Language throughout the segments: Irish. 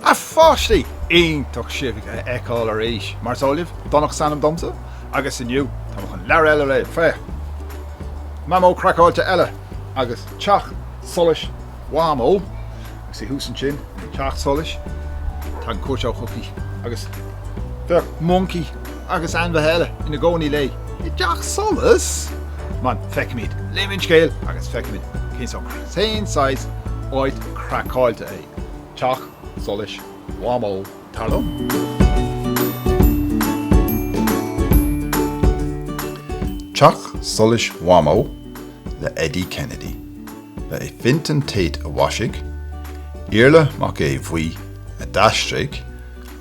A pháistí! Iontach sibh a fheiceáil arís, mar is eol libh, Domhnach is ainm domsa, agus inniu tá mé chun leabhar eile a léamh, féach! Mamó craiceáilte eile, agus teach solais Mhamó, agus í thuas ansin sa teach solais, tá cuairt chuici agus tá moncaí agus ainmhithe eile ina gcónaí léi i dteach solais! Man, feicimid, léifimid an scéal agus feicimid cén sórt, cén saghas áit craiceáilte é teach solais Mhamó, dar liom. Teach Solais Mhamó le Eddie Kennedy. Ba é Fintan Tate a mhaisigh, Iarla Mac Aodha Bhuí a d'aistrigh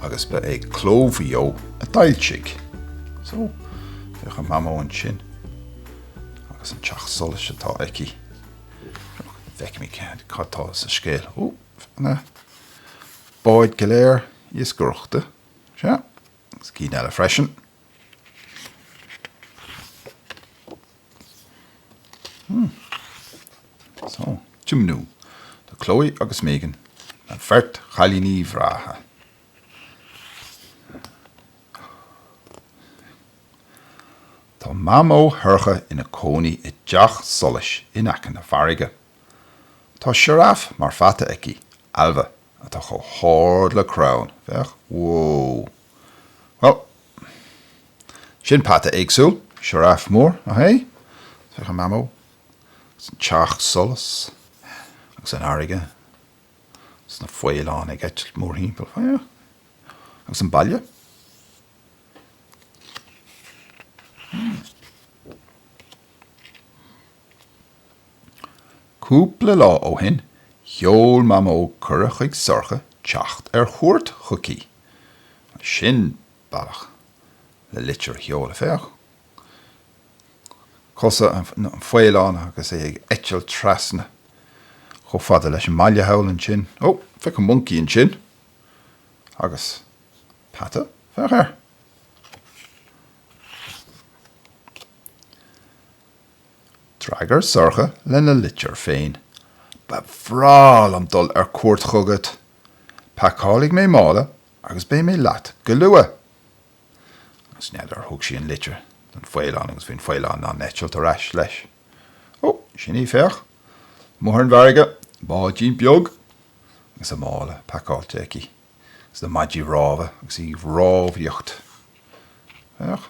agus ba é Cló Mhaigh Eo a d'fhoilsigh. So, féach an Mamó ansin agus an teach solais atá aici. Feicimid cad atá sa scéal. Ó, na báid go léir iascaireachta. Sea, agus cinn eile freisin. Tiomnú do Chloe agus Megan, an bheirt chailíní breátha. Tá Mamó Shorcha ina cónaí i dteach solais in aice na farraige. Tá sioráf mar pheata aici, Ailbhe, atá chomh hard le crann, féach, whoa! Bhuel, sin peata éagsúil, sioráf mór, nach ea? Féach an mamó, agus an teach solais, agus an fharraige, agus na faoileáin ag eitilt mórthimpeall, féach, agus an baile. Hmm. Cúpla lá ó shin, sheol Mamó cuireadh chuig Sorcha teacht ar cuairt chuici. Ó, sin bealach le litir a sheoladh, féach, cosa an fhaoileáin agus é ag eitilt trasna chomh fada leis an mbaile thall ansin. Ó, féach an moncaí ansin. Agus peata, féach air. D'fhreagair Sorcha lena litir féin, Ba bhreá liom dul ar cuairt chugat. Pacálfaidh mé mála agus beidh mé leat go luath. Agus n'fheadar, thug sí an litir don faoileán agus bhí an faoileán ag eitilt ar ais leis. Ó, sin í, féach, amuigh ar an bhfarraige, báidín beag agus a mála pacáilte aici, agus na maidí rámha agus í ag rámhaíocht. Féach.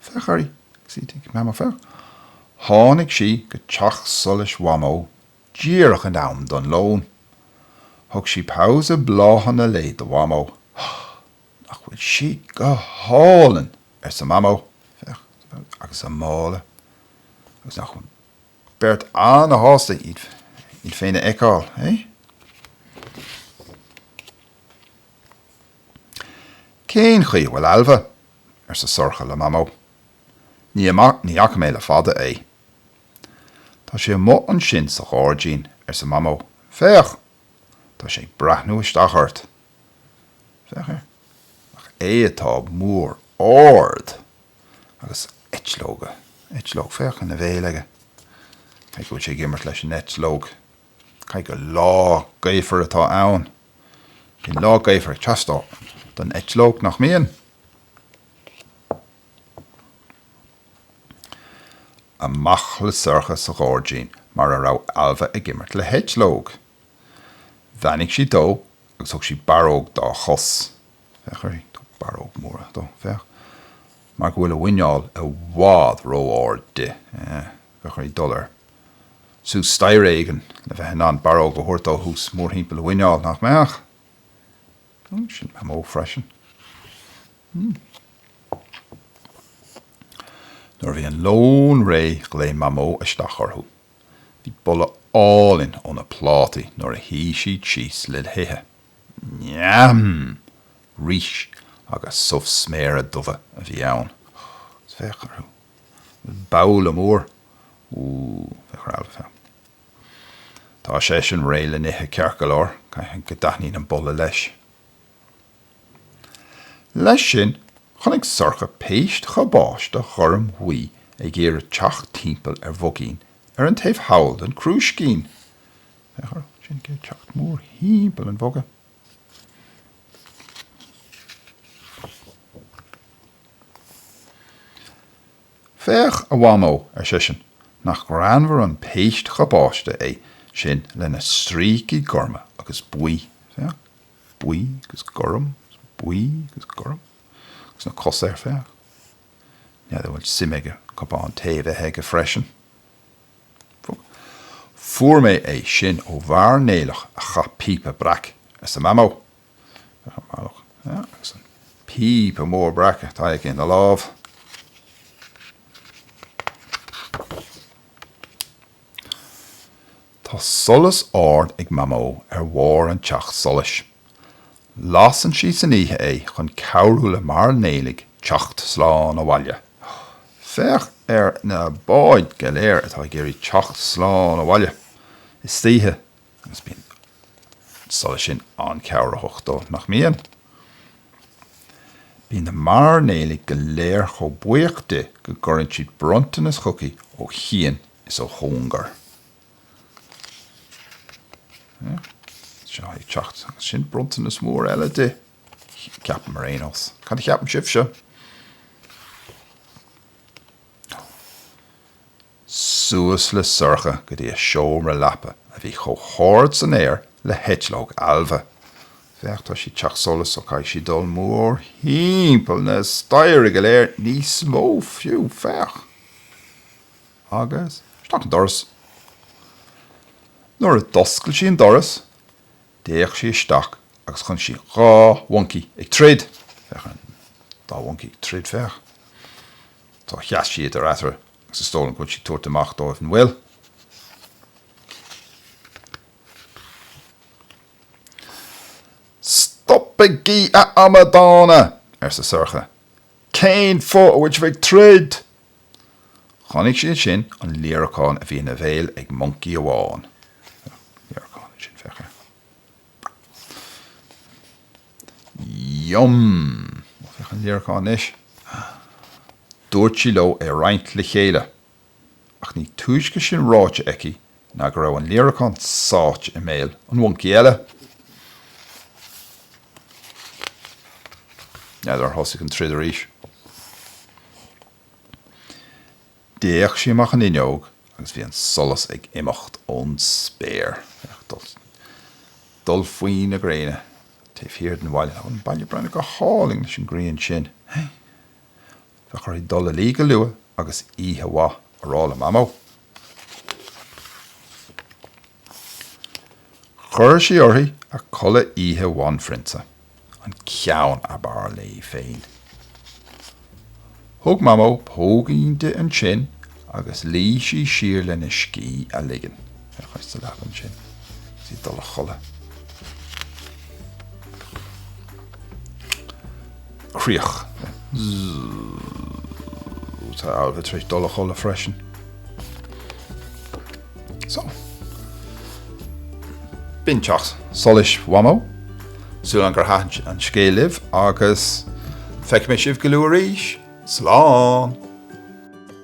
Féach uirthi, cct, Mamó féach. Tháinig sí go teach solais Mhamó díreach in am don lón. Thug sí pabhsae bláthanna léi do Mhamó. Nach bhfuil siad go hálainn! arsa Mamó. Féach, agus a mála. Agus nach bhfuil an bheirt an-shásta iad féin a fheiceáil, eh? Cén chaoi a bhfuil Ailbhe? arsa Sorcha le Mamó. Ní ní fhaca mé le fada é. Tá sé amuigh ansin sa ghairdín, arsa Mamó. Féach! Tá sé ag breathnú isteach ort. Féach air. Nach é atá mór ard agus eitleoga, eitleog, féach ina bhéal aige. Caithfidh go bhfuil sé ag imirt leis an eitleog. Caithfidh gur lá gaofar atá ann. Bíonn lá gaofar ag teastáil don eitleog, nach mbíonn? Amach le Sorcha sa ghairdín mar a raibh Ailbhe ag imirt le heitleog. Bheannaigh sí dó agus thug sí barróg dá chos. Féach uirthi. barróg mhór dó. Féach mar go bhfuil a mhuineál i bhfad ró-ard di. Bheadh uirthi dul ar. suas staighre éigin le bheith in ann barróg a thabhairt dó thuas mórthimpeall a mhuineál, nach mbeadh? Hm, sin mamó freisin. Hm. Nuair a bhí an lón réidh ghlaoigh mamó isteach orthu. Bhí boladh álainn ó na plátaí nuair a shuigh siad síos le hithe. Neam! Rís agus subh sméara dubha a bhí ann. Féach orthu. Babhla mór. Úúú, féach ar Ailbhe féach. Tá seisean réidh le n-ithe ceart go leor, caithfidh go dtaitníonn an boladh leis. Leis sin, chonaic Sorcha péist chabáiste ghorm bhuí ag iarraidh teacht timpeall ar bhogán ar an taobh thall den crúiscín. Féach orthu, sin iad ag teacht mórthimpeall an bhogáin. Féach, a Mhamó, ar seisean, nach greannmhar an péist chabáiste é sin lena stríocaí gorma agus buí, féach, buí agus gorm agus buí agus gorm agus na cosa air, féach. N'fheadar an bhfuil suim aige cupán tae a bheith aige freisin? Fuair mé é sin ó mhairnéalach a chaith píopa breac arsa Mamó. Agus an píopa mór breac atá aige ina lámh. Tá solas ard ag Mamó ar bharr an teach solais Lasann sí san oíche é chun cabhrú le mairnéalaigh teacht slán abhaile. Féach ar na báid go léir atá ag iarraidh teacht slán abhaile istoíche agus bíonn an solas sin an-chabhraitheach dóibh, nach mbíonn? Bíonn na mairnéalaigh go léir chomh buíoch di go gcuireann siad bronntanas chuici ó chian is ó chóngar. Ag teacht, sin bronntanas mór eile di. Ceapaim ar aon nós. Cad a cheapann sibhse? Suas le Sorcha go dtí a seomra leapa a bhí chomh hard san aer le heitleog Ailbhe. Féach, tá sí i dteach solais so caithfidh sí dul mórthimpeall na staighre go léir, níos mó fiú, féach. agus isteach an doras. Nuair a d'oscail sí an doras, d'fhéach sí isteach agus chonaic sí dhá mhoncaí ag troid. Féach ar an dá mhoncaí ag troid, féach. So sheas sí eatarthu agus is dóigh liom go bhfuil sí ag tabhairt amach dóibh, an bhfuil? Stopaigí, a amadána! arsa Sorcha. Cén fáth a bhfuil sibh ag troid? Chonaic sí ansin an líreacán a bhí ina bhéal ag moncaí amháin. Yum! Féach an líreacán anois. Dúirt sí leo é a roinnt le chéile. Ach ní túisce sin ráite aici ná go raibh an líreacán sáite i mbéal an mhoncaí eile. N'fheadar ar thosaigh an troid arís. D'fhéach sí amach an fhuinneog agus bhí an solas ag imeacht ón spéir. Féach, dul faoi na gréine taobh thiar den bhaile. Tá an baile ag breathnú go hálainn leis an ghrian sin. Bheadh uirthi dul a luí go luath agus oíche mhaith a rá le Mamó. Chuir sí uirthi a culaith oíche bhanphrionsa, an ceann ab fhearr léi féin. Thug Mamó póigín di ansin agus luigh sí siar lena scíth a ligean. Féach ar sa leaba ansin agus í ag dul a chodladh. Críoch. Tá Ailbhe tar éis dul a chodladh freisin. Só. B'in Teach Solais Mhamó. Súil agam gur thaitin an scéal libh agus feicfidh mé sibh go luath arís. Slán!